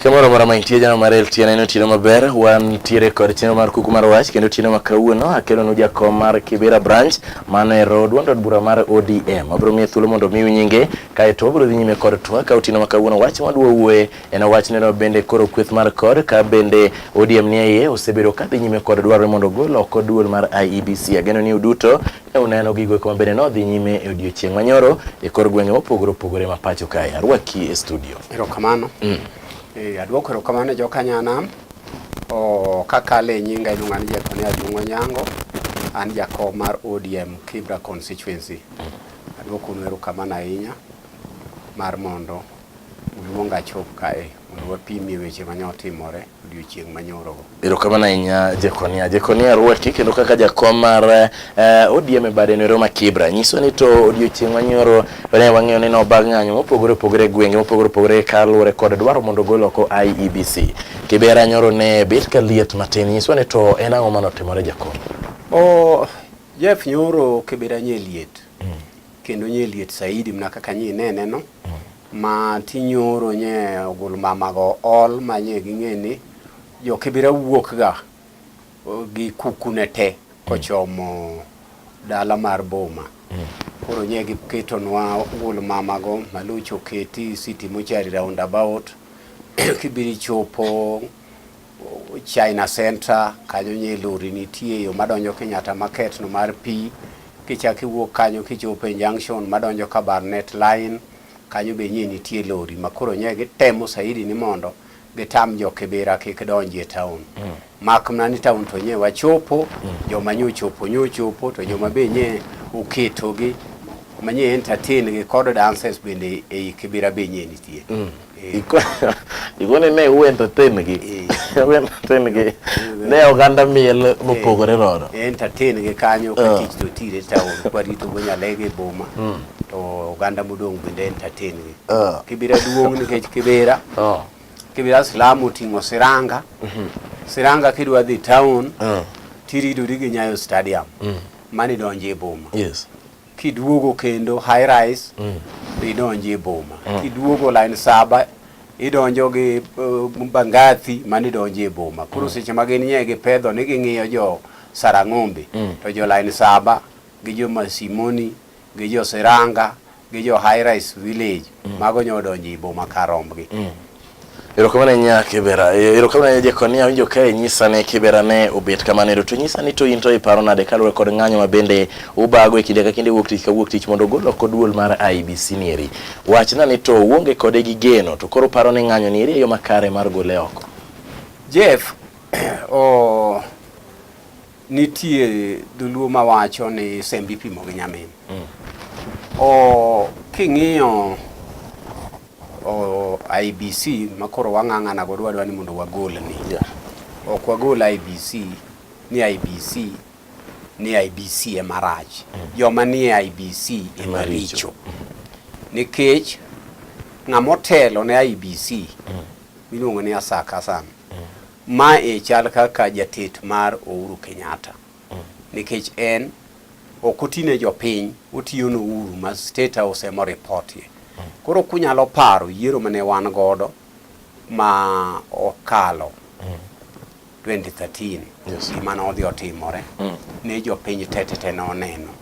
Kamoro mora ma intie jana mar LTN en otieno maber wantiere kod chenro mar kuku mar wach kendo otieno ma kawuono akelonu jakom mar Kibera branch mano e road duond od bura mar ODM abiro miye thuolo mondo omiu nyinge kaeto obiro dhi nyime kod twak ka otieno ma kawuono wach madwa wuoye En owachneno bende koro kweth mar kor ka bende ODM ni iye osebedo kadhi nyime kod dwarore mondo ogol oko duol mar IEBC. Ageno ni uduto ne uneno gigo eko mabende nodhi nyime e odiechieng' manyoro e kor gwenge mopogore opogore ma pacho kae. Arwaki e studio. Erokamano. Mm. E, adwoko erokamano e jokanyanam. O, kakale e nyinga iluonga ni Jekone Ajung'o Nyango. An jakom mar ODM Kibra constituency. Mm. Adwoko unu erokamano ahinya mar mondo Uru mondo achop kae mondo wapimie weche mane otimore odiochieng' manyorogo. Erokamano ahinya Jekonia. Jekonia Ruati kendo kaka jakom mar uh, eh, ODM e bade noero ma Kibra nyiso ni to odiochieng' manyoro ne wang'eyo ni noba ng'anyo mopogore opogore e gwenge mopogore opogore kaluwore kod dwaro mondo ogol oko IEBC. Kibera nyoro ne bet ka liet matin nyiso ni to en ang'o mane otimore jakom? Oh, Jeff nyoro Kibera nye liet. Mm. kendo nye liet saidi mna kaka nye inene no mm. ma tinyoro nye ogul mama go ol ma nye ging'e ni jo kibira wuok ga gi kukune te mm. kochomo dala mar boma mm. koro nye giketonwa ogul mama go malucho keti siti mochari roundabout kibiri chopo China Center kanyo nye lori nitie yo madonjo Kenyatta Market no mar pi kichak iwuok kanyo kichopo e junction madonjo ka Barnet Line kanyo be nye nitie lori makoro nye gitemo saidi ni mondo gitam jo Kibera kik donji e town mm. mak mana ni town to nye wachopo mm. joma nye ochopo nye ochopo to joma be nye oketogi manye entertain gi kod dances bende ei Kibera be nye nitie mm. Igone ne uwendo tin gi. Uwendo tin gi. Ne oganda miel mopogore rodo. Entertain gi kanyo ka tich to tire taon kwarito go nyalege e boma. To oganda modong' bende entertain gi. Kibira duong' nikech kibira. Kibira slam oting'o siranga. Siranga kidwa dhi taon. Tiridori gi Nyayo Stadium. Mani donje e boma. Yes. kiduogo kendo high rise mm. idonjo e boma mm. kiduogo line saba idonjo gi uh, bangathi mane idonjo e boma koro mm. seche ma gin nye gipedho ni ging'iyo jo sarang'ombe mm. to jo line saba gi jo masimoni gi jo seranga gi jo high rise village mm. mago nyo odonjo e boma karombgi mm. Erokamano nya Kibera. E, erokamano nya Jekonia winjo kae nyisa ne Kibera ne obet kamano ero to nyisa ni to in to iparo nade kaluwore kod ng'anyo ma bende ubago e kinde ka kinde wuok tich ka wuok tich mondo ogol oko duol mar IBC ni eri. Wachna ni to uonge kode gi geno to koro paro ni ng'anyo ni eri e yo makare mar gole oko. Jeff, oh, Nitie dholuo mawacho ni sembe ipimo gi nyamin. Mm. O king'iyo o IBC makoro wang'ang'ana go dwadwa ni mondo wagol ni. Yeah. Ok wagol IBC ni IBC ni IBC e marach. Mm. Joma ni e IBC e maricho. Mm. Nikech ng'amotelo ne IBC mm. miluongo ni Asaka Hassan. Mm. Ma e chal kaka jatet mar Ouru Kenyatta mm. nikech en ok otine jopiny otiyo no Ouru ma state house emo reportie mm. koro kunyalo paro yiero mane wan godo ma okalo mm. 2013 yes. gima ne odhi otimore mm. ne jopiny tetete ne oneno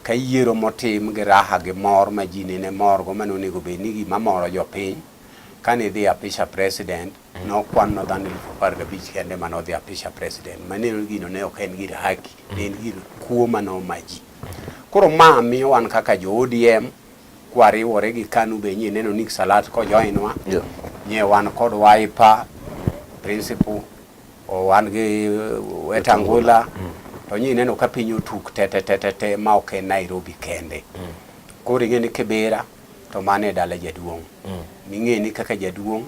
ka yiero motim gi raha gi mor ma ji nene morgo mane onego bed ni gima moro jopiny kane idhi apisha president nokwan no dhano elfu apar gabich kende mane odhi apisha president mane gino ne ok en gir haki ne en gir kuo mane oma ji koro ma miyo wan kaka jo ODM kwariwore gi KANU be nyie neno Nick Salat kojoinwa yeah. nyie wan kod Wiper principal wan gi uh, Wetangula mm. to nyie neno ka piny otuk tetetetete ma ok en Nairobi kende mm. koro ing'e ni Kibera to mane e dala jaduong' mm. ming'e ni kaka jaduong'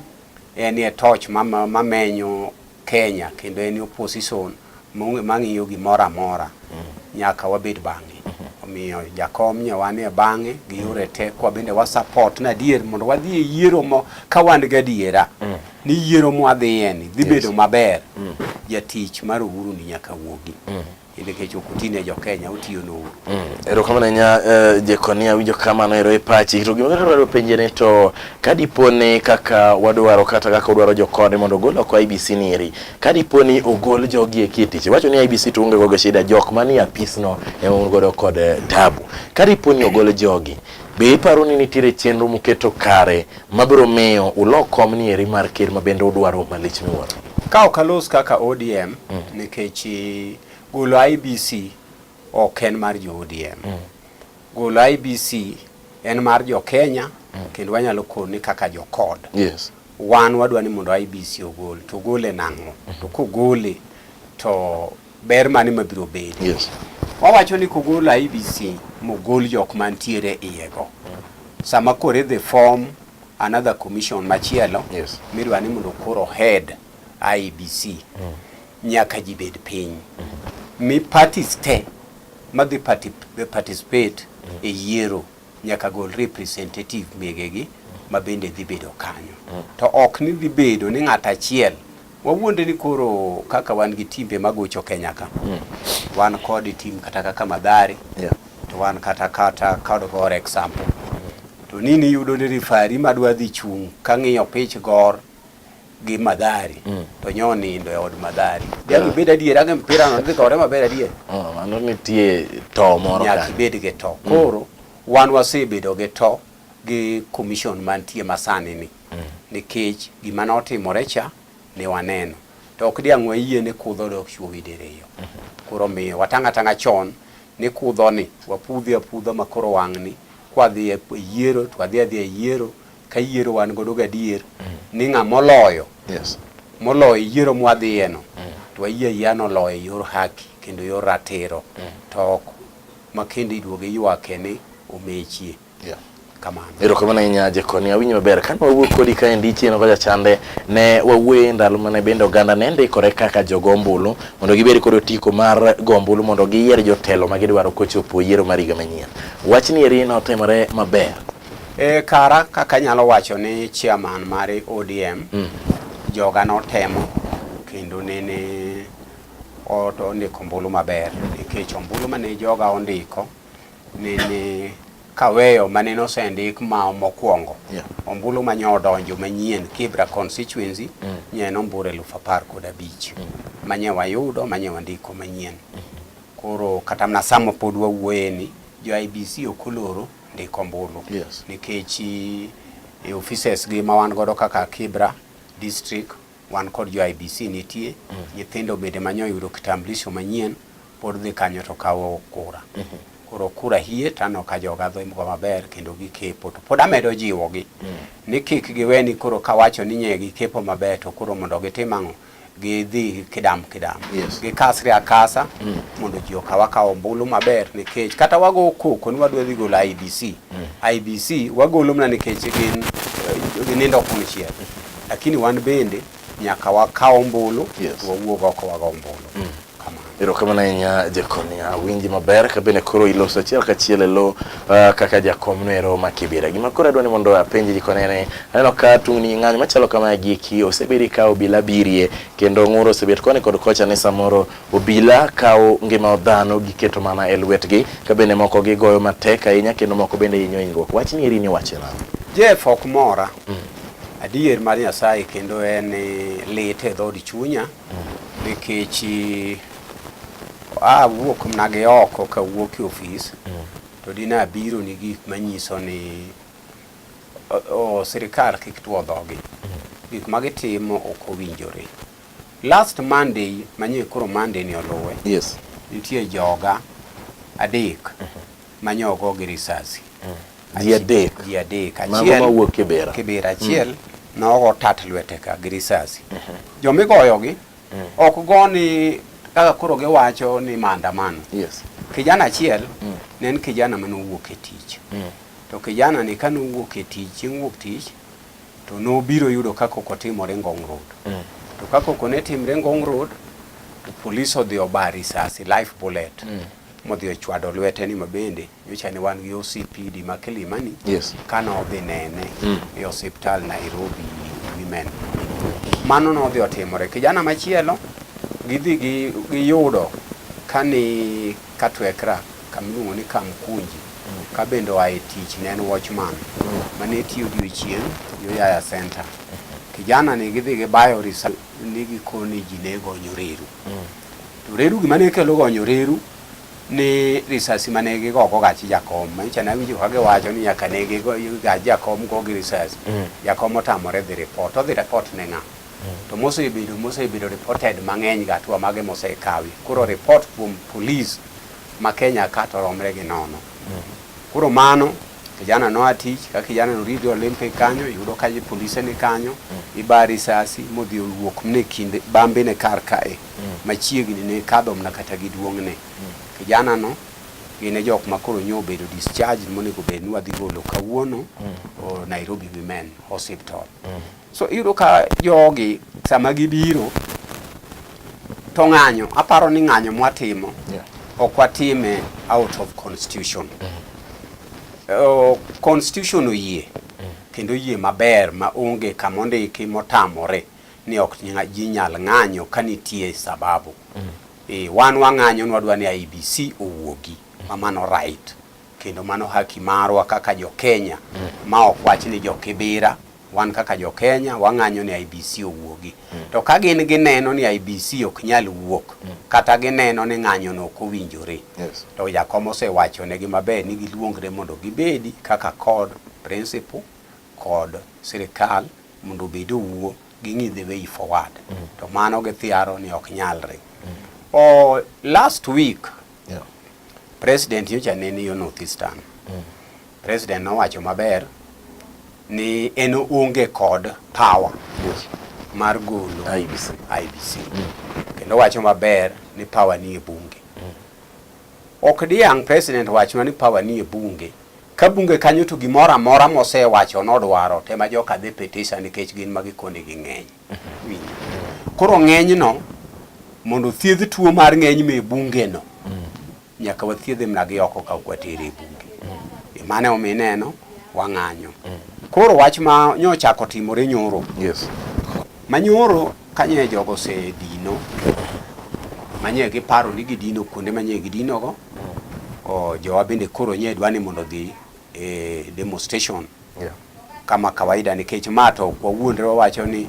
En e torch mamenyo Kenya kendo en opposition mang'iyo gimoro amora mm. nyaka wabed bang'e mm-hmm. omiyo jakom nyawan e bang'e gi yore te kwa bende wa support na dier mondo wadhi e yiero mo ka wan ga diera mm. ni yiero mo adhiye ni dhi bedo maber mm. jatich mar uhuru ni nyaka wuogi nikech ok utine jo Kenya utiyo no uru. Mm. Erokamano nya uh, eh, Jekonia winjo kamano ero e pachi to gima dwaro penje ni to kadiponi kaka wadwaro kata kaka wadwaro jokode mondo ogol oko IBC ni eri kadiponi ogol jogi e kitich wacho ni IBC to onge gogo shida jok manie apis no ema un godo kod eh, tabu kadiponi ogol jogi Be iparo ni nitiere chenro muketo kare mabiro miyo ulo kom ni eri mar ker ma bende udwaro malich miwuoro? Ka ok alos kaka ODM mm. nikech eh, golo IBC ok en mar jo ODM. Mm. Golo IBC en mar jo Kenya mm. kendo wanyalo koni kaka jo kod. Yes. Wan wadwa ni mondo IBC ogol to gole nang'o? Mm. To kogole to Ber mane mabiro bedi? Yes. Wawacho ni kogol IBC mogol jok mantiere iyego. Sama koro idhi form another commission machielo yes. midwa ni mondo koro head IBC mm. nyaka ji bed piny mm -hmm. mi parties te madhi participate mm -hmm. e yiero nyaka gol representative megegi ma bende dhi bedo kanyo mm. to ok ni dhi bedo ni ng'at achiel wawuonde ni koro kaka wan gi timbe magocho Kenya ka mm. wan kod tim kata kaka Madhari yeah. to wan kata kata kod Gor example to nini yudo ni rifari madwa dhi chung' ka ng'iyo pich Gor gi Madhari mm. to nyo nindo e od Madhari. Yeah. Nyaka ibed adier ange mpira no dhi kore maber adier. Oh, mano nitie to moro kan. Nyaka ibed gi to. Mm. Koro mm. wan wasebedo gi to gi commission mantie masani ni. Mm. Nikech gima notimore cha ne waneno. To ok diang' wayie ni kudho dok chuogi diriyo. Mm -hmm. Koro miyo watanga tanga chon ni kudho ni wapudhi apudha makoro wang'ni kwadhi e yiero to adhi adhi e yiero ka yiero wan godo gadier mm. ni ng'a moloyo yes. moloyo yiero mwadhiyeno mm. to wayie ayia noloyo e yor haki kendo yor ratiro mm. to ok makende iduogo iywake ni omechie yeah. kamano erokamano ahinya jekoni awinjo maber kane wawuo kodi ka endi chieno kocha chande ne wawuoye ndalo mane bende oganda ne ndikore kaka jogo ombulu mondo gibed kod otiko mar go ombulu mondo giyier jotelo ma gidwaro kochopo yiero mar higa manyien wachni eri notimore maber E, kara kaka anyalo wacho ni chairman mar ODM mm. joga notemo kendo nene ondiko ombulu maber nikech ombulu mane joga ondiko nene kaweyo mane nosendik ma mokwongo yeah. ombulu ma nyodonjo manyien Kibra constituency mm. nye en ombulu eluf apar kod abich mm. manye wayudo manye wandiko manyien mm -hmm. koro kata mna sama pod wawuoyeni jo IBC okoloro ndiko ombulu yes. nikech e offices gi ma wan godo kaka Kibra district wan kod jo IBC nitie mm. nyithindo bende manyo yudo kitambulisho manyien pod dhi kanyo to kawo kura mm -hmm. koro kura hie tano ka joga dhi mko maber kendo gikepo to pod amedo jiwogi mm. ni kik giweni koro kawacho ni nye gikepo maber to koro mondo gitim ang'o gidhi kidam kidam yes. gikasre akasa mm. mondo ji okaw akaw ombulu maber nikech kata wago koko ni wadwa dhi golo IBC mm. IBC wagolo mana nikech gin eh, ginindo kumichiel lakini wan bende nyaka wakaw ombulu yes. wawuog oko wago ombulu mm. Erokamano ahinya jakonia awinji maber kabende koro iloso achiel kachiel e lo uh, ah, kaka jakom noero makibira gima koro adwa ni mondo apenji jikone ni aneno ka tungni ng'anyo machalo kama giki osebedi ka obila birie kendo ng'uro osebet koni kod kocha ni samoro obila kawo ngima dhano giketo mana e lwetgi kabende moko gigoyo matek ahinya kendo moko bende hinyo hinyruok wach ni eri ni wache nang'o Jeff ok mora mm. adier mar Nyasaye kendo en eh, lit e dhood chunya mm. nikech awuok mna gi oko kawuok e ofis mm. to dine abiro ni gik manyiso ni sirikal kik tuo dhogi mm. gik ma gitimo ok owinjore last monday manyie koro monday ni oluwe yes. nitie joga adek mm -hmm. manyo ogo gi risasi ji adek ji adek achiel mawuok kibera kibera achiel mm. nogo tat lwete ka gi risasi mm -hmm. jomigoyogi mm. ok go ni kaka koro giwacho ni maandamano yes. kijana achiel mm. ne en kijana mane owuok e tich mm. to kijana ni kane owuok e tich chieng' wuok tich to nobiro yudo kaka ok otimore ngong road mm. to kaka ok ne timre ngong road to polis odhi oba risasi life bullet mm. modhi ochwado lwete ni mabende nyocha ne wan gi OCPD ma Kilimani yes. kane odhi nene mm. e osiptal Nairobi Women. Mano nodhi otimore. Kijana machielo gidhi gi giyudo kani katwekra kamiluongo ni Kamkunji mm. ka bende oa e tich ne en watchman mm. mane tiyo odiochieng' Yaya Center. Kijana ni gidhi gibayo risa ni gikoni ji ne gonyo reru. Mm. To reru gima ne kelo gonyo reru ni risasi mane gigogo gachi jakom manyicha nawinjo ka giwacho ni nyaka ne gachi jakom go gi risasi mm. jakom otamore dhi report odhi report ne ng'a mm. to mosebedo mosebedo reported mang'eny ga tuwa mage mosekawi koro report kuom police ma Kenya ka to romre gi nono mm. koro mano Kijana noa tich, ka kijana norido Olympic kanyo, yudo ka polise ni kanyo, mm. iba risasi modhi owuok mne kinde bambe ne kar kae mm. machiegni ne kadho mna kata gi duong'ne. Mm. Kijana no gin e jok ma koro nyo obedo discharge monego bed ni wadhi golo kawuono mm. Nairobi Women Hospital. Mm. So iyudo ka jogi sama gibiro to ng'anyo, aparo ni ng'anyo mwatimo yeah. ok watime out of constitution mm. uh, constitution oyie mm. kendo yie maber ma onge kama ondiki motamore ni ok ji nyal ng'anyo ka nitie sababu mm. e, wan wang'anyo nwadwa ni IBC owuogi mm. ma mano right kendo mano haki marwa kaka jo Kenya mm. ma ok wach ni jo Kibira wan kaka jo Kenya wang'anyo ni IBC owuogi. Mm. To ka gin gineno ni IBC ok nyal wuok mm. kata gineno ni ng'anyo no ok owinjore. Yes. To jakom osewacho ne gi maber ni giluongre mondo gibedi kaka kod principal kod sirikal mondo obed owuo ging'i the way forward. Mm. To mano githiaro ni ok nyalre. Mm. O last week yeah. President nyocha nene yo North Eastern. Mm. President nowacho maber ni en onge kod power yes. mar golo IBC, IBC. Mm. kendo wacho maber ni power ni e bunge mm. ok diang president wachna ni power ni e bunge ka bunge kanyo to gimoro amora mosewacho nodwaro tema joka dhi petition nikech gin ma gikoni gi ng'eny mm-hmm. koro ng'enyno mondo thiedh tuo mar ng'eny me bungeno mm. Nyaka wathiedhe mna gi oko ka ok watere e bunge. Mm. Mane omi neno wang'anyo. Mm. Koro wach ma nyochako timore nyoro. Yes. Manyoro kanye jogo se dino. Manye giparo ni gidino kuonde manye gidinogo. Mm. O jowa bende koro nye dwa ni mondo dhi e demonstration. Yeah. kama kawaida nikech ma to kwa wuondre wawacho ni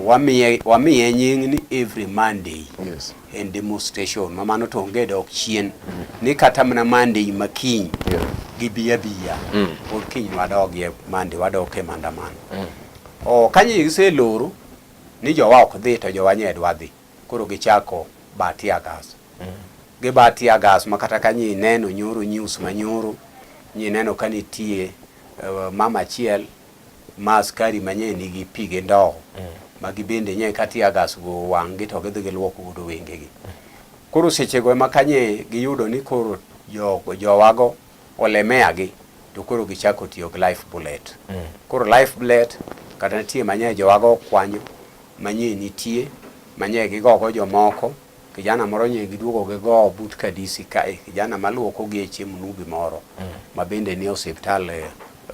wamiye wamiye nying ni every Monday yes. en demonstration ma mano to onge dok chien mm. ni kata mana Monday ma kiny yeah. gi biya biya mm. or kiny wadog ye Monday wadok e mandamano mm. o kanyi giseloro ni jowa ok dhi to jowa nyedwa dhi Koro gichako ba tear gas. Mm. Giba tear gas ma kata ka nyi neno nyoro news ma nyoro nyi neno ka nitie uh, mama achiel ma askari manye nigi pi gi ndoo mm. ma gibende nye ka tear gas go wang'gi to gidhi giluoko godo wengegi. Mm. Koro sechego ema kanye giyudo ni koro jowago olemea gi to koro gichako tiyo gi life bullet mm. koro life bullet kata nitie manye jowago okwanyo manye nitie manye gigogo jomoko kijana moro nye giduogo gi go but kadisi ka eh, kijana maluoko gi e chiemo nubi moro mm. mabende ni hospital eh,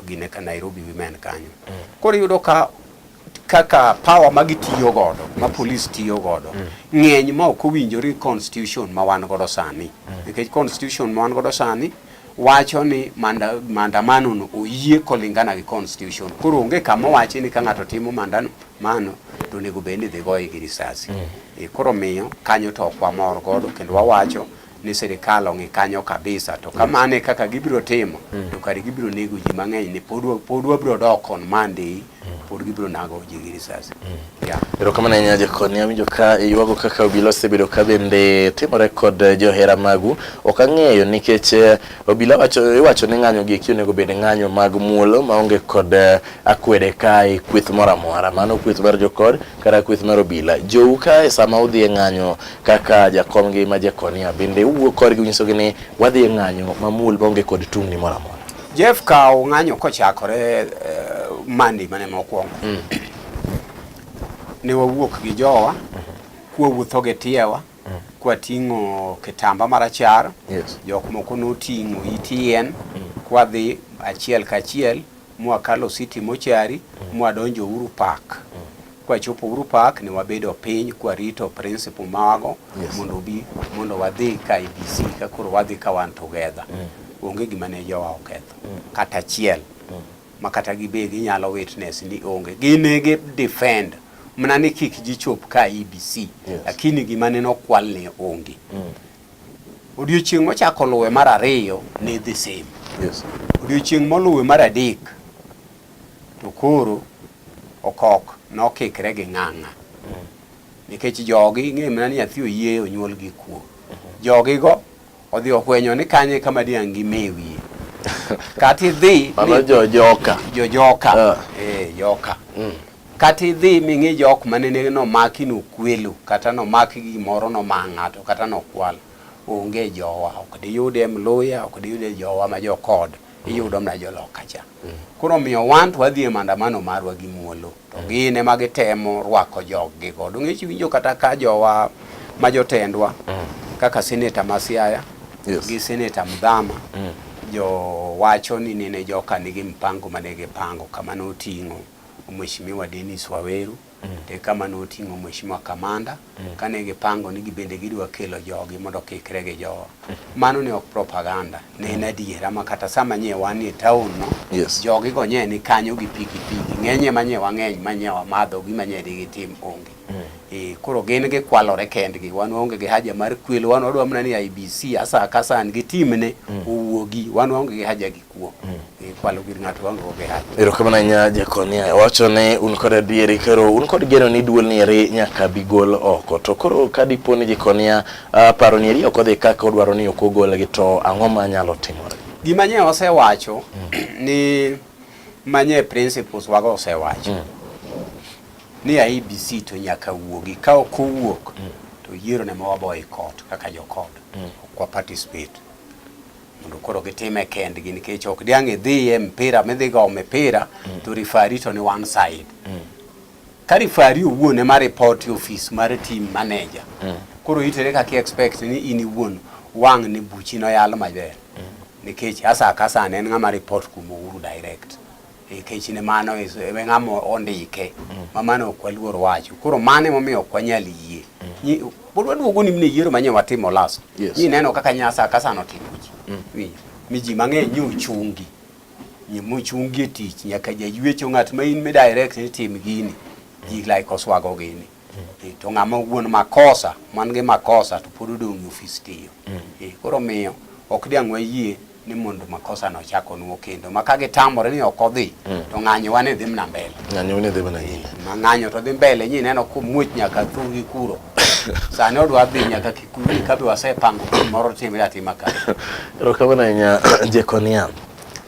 gine ka Nairobi women kanyo mm. koro yudo ka kaka power ma gitiyo godo ma police tiyo godo mm. ng'eny ma ok owinjore constitution ma wan godo sani mm. nikech constitution ma wan godo sani wacho ni maandamano no oyie kolingana gi constitution koro onge kama owachi ni ka ng'ato timo maandamano to onego bed ni dhi goye gi risasi mm. e, koro miyo kanyo to ok wamor godo kendo wawacho ni sirikal ong'i kanyo kabisa to kamano e kaka gibiro timo mm. to kare gibiro nego ji mang'eny ni pod wabiro dok on Monday mm. pod gibiro nago ji gi risasi mm. erokamano ahinya jakoni awinjo ka iywago kaka obila osebedo ka bende timore kod eh, johera magu ok ang'eyo nikech eh, obila wacho iwacho ni ng'anyo gi eki onego bed ng'anyo mag muolo maonge kod eh, akwede kae kweth moro amora mano kweth mar jokod kata kweth mar obila jou kae sama udhi e ng'anyo kaka jakomgi ma Jekonia bende uwuo korgi unyisogi ni wadhi e ng'anyo mamul maonge kod tungni moro amora. Jeff kawo ng'anyo kochakore eh, mandi mane mokwongo mm. ne wawuok gi jowa mm-hmm. kwawuotho gi tiewa mm. kwating'o kitamba marachar yes. jok moko noting'o it yien mm. kwadhi achiel kachiel mwakalo city mochari mwadonjo Uhuru Park kwachopo Uhuru Park ne wabedo piny kwarito principal mago yes. mondo obi mondo wadhi ka IBC ka koro wadhi ka wan together mm. onge gima ne jowa oketho mm. kata achiel mm. ma kata gibe ginyalo witness ni onge ginege defend mna ni kik jichop ka IBC yes. lakini gima ne nokwal ne onge mm. Odiochieng' mochako luwe mar ariyo ne the same. Yes. Odiochieng' moluwe mar adek to koro okok nokikre gi ng'ang'a. Mm. Nikech jogi ing'e mana ni nyathi oyie onyuol gi kuo. Mm-hmm. Jogi go odhi ohwenyo ni kanye kama diang' gi mewie. Kati dhi. Mano jojoka. Jojoka. Uh. Eh, joka. Mm. Kata idhi ming'i jok ma nene nomaki nokwelo kata nomak gimoro nomaa ng'ato kata nokwal onge jowa ok diyude Mluya ok diyude jowa ma jokod iyudo mana joloka cha koro miyo wan to wadhi e mandamano marwa gi muolo to gin ema gitemo rwako joggi go dong'ech winjo kata ka jowa ma jotendwa kaka seneta ma Siaya yes. gi seneta Mdhama mm. jo wacho ni nene joka nigi mpango mane gipango kama noting'o Mheshimiwa Dennis Waweru mm. to e kama noting'o Mheshimiwa Kamanda mm. kane gipango ni gibende gidwa kelo jogi mondo kikre gi jowa. Mm. Mano ne ok propaganda, ne en mm. adiera ma kata sama nye wan e taon no, yes. jogi go nye ni kanyo gi piki piki, ng'enye ma nye wang'eny ma nye wamadho gi ma nye digitim onge. Mm. E, koro gin gikwalore kendgi, wan waonge gi haja mar kwelo, wan wadwa mana ni IBC asa kasa an gi timne mm. owuogi, wan waonge gi haja gi kuom e kwalo gir ng'ato waonge go gi haja. Erokamano ahinya Jekonia. Wacho ni un kod adieri koro un kod geno ni duol ni eri nyaka bi gol oko. To koro ka dipo ni Jekonia ah, paro ni eri ok odhi kaka odwaro ni ok ogolgi to ang'o ma nyalo timore? Gima nye osewacho ni manye principles wago osewacho ni IEBC to nyaka wuogi ka ok owuok to yiero ne ma waboyi kot kaka jokod ok wa participate mondo koro gitime kendgi nikech ok diang' idhiye mpira midhi go mipira mm. to rifari to ni one side mm. ka rifari owuon ema ripoti ofis mar team manager mm. koro itere kaki expect ni in iwuon wang' ni buchi noyal maber mm. nikech asa kasa ne en ng'ama report kumo uru direct nikech ne mano e ng'ama ondike mm. ma mano ok waluor wacho koro mano emomiyo ok wanyal yie mm. pod waduogo ni mne yiero manye watimo laso ni neno kaka nyasa kasano timo ji mm. mi ji mang'eny ni ochungi mochungi e tich nyaka jaywecho ng'at ma in mi direct ni tim gini ji like oswago gini Eh, to ng'ama wuon makosa man gi makosa to pod odong' e ofis tiyo mm. eh, koro miyo ok diang' wayie ni mondo makosa no chak onwo kendo ma ka gitamore ni ok odhi mm. to ng'anyo wane dhi mna mbele ng'anyo wane dhi mna nyime ma ng'anyo to dhi mbele nyi neno ko muoch nyaka thugi kuro sani odwa dhi nyaka kikuri ka bi wasepango moro timre atima ka erokamano ahinya jekonia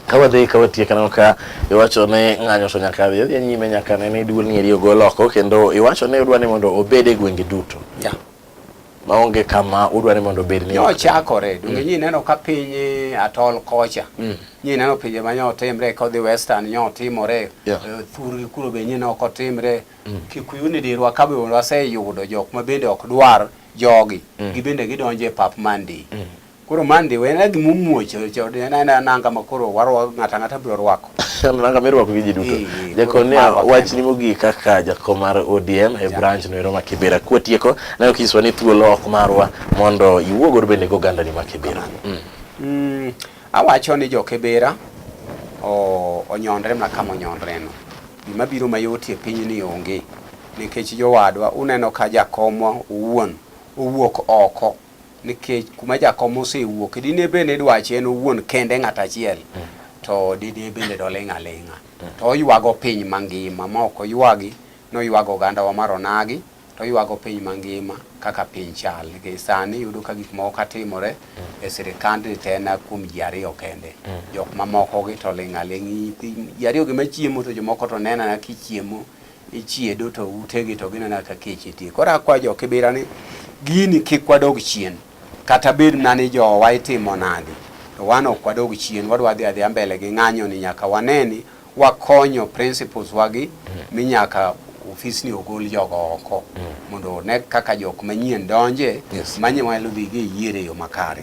kawadhi kawatie kaneno ka iwacho ni ng'anyo to nyaka dhi odhi nyime nyaka ne ni duol ng'eri ogol oko kendo iwacho ni udwa ni mondo obed e gwenge duto yeah. maonge kama udwa ni mondo obed ni ochakore donge mm. nyi neno ka piny e atol kocha mm. nyi neno pinje ma nyotimre kodhi western nyotimore yeah. uh, thurgi kuro be nyi noko timre mm. kikuyu ni dirwa ka be waseyudo jok ma bende ok dwar jogi mm. gibende gidonje pap mandi mm. Koro mandi we na gima omuoch nanga ma koro warwako ng'ata ng'ata biro rwako. Nanga mirwako gi ji duto. Jakon ni wachni mogik kaka jakom mar ODM e branch no ero ma Kibera. Kwa tieko ne ok iswa ni thuolo ok marwa mondo iwuogor bende go ganda ni ma Kibera. Mm. Mm, awacho ni jo Kibera onyondre ma kama onyondre no. Gima biro mayot e piny ni onge nikech jowadwa uneno ka jakomwa owuon owuok oko Nikech kuma jakom osewuoke, dine be ni dwache en owuon kende ng'at achiel, mm. to dine bende doling' aling'a. Mm. To oywago piny mangima, ma ok oywagi, noywago ogandawa mar onagi, to oywago piny mangima kaka piny chal. Nikech sani yudo ka gik moko katimore mm. e sirikand ni te na kuom ji ariyo kende. Jok mamokogi to ling' aling'. Ji ariyogi machiemo to jomoko to nenana kichiemo. Ichiedo to utegi to ginena ka kech itie. Koro akwa jo Kibira ni gini kik wadog chien. Kata bed na ni jowa itimo nadi. To wan ok wadog chien, wadwa dhi adhiya mbele gi ng'anyo ni nyaka waneni wakonyo principles wagi mm. mi nyaka ofis ni ogol jogo oko mm. mondo ne kaka jok manyien donje yes. manyalo dhi gi yiere yo makare.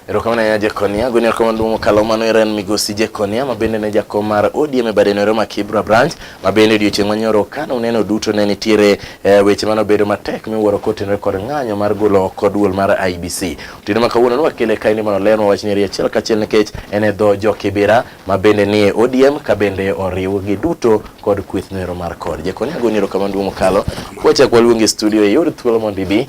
Erokamano ahinya Jekonia. Gwini erokamano duong' mokalo mano era en migosi Jekonia ma bende ne jakom mar ODM e bade noero ma Kibra branch ma bende odiochieng' manyoro ka noneno duto ne nitiere eh, weche mane obedo matek miwuoro kotenore kod ng'anyo mar golo oko duol mar IBC. Otieno ma kawuono nwakele kaendi mondo olerwa wach nyeri achiel kachiel nikech en e dho jo Kibira ma bende nie ODM ka bende oriwgi duto kod kweth noero mar kod. Jekonia gwini erokamano duong' mokalo. Kwachak waluongi e studio e yor thuolo mondo ibi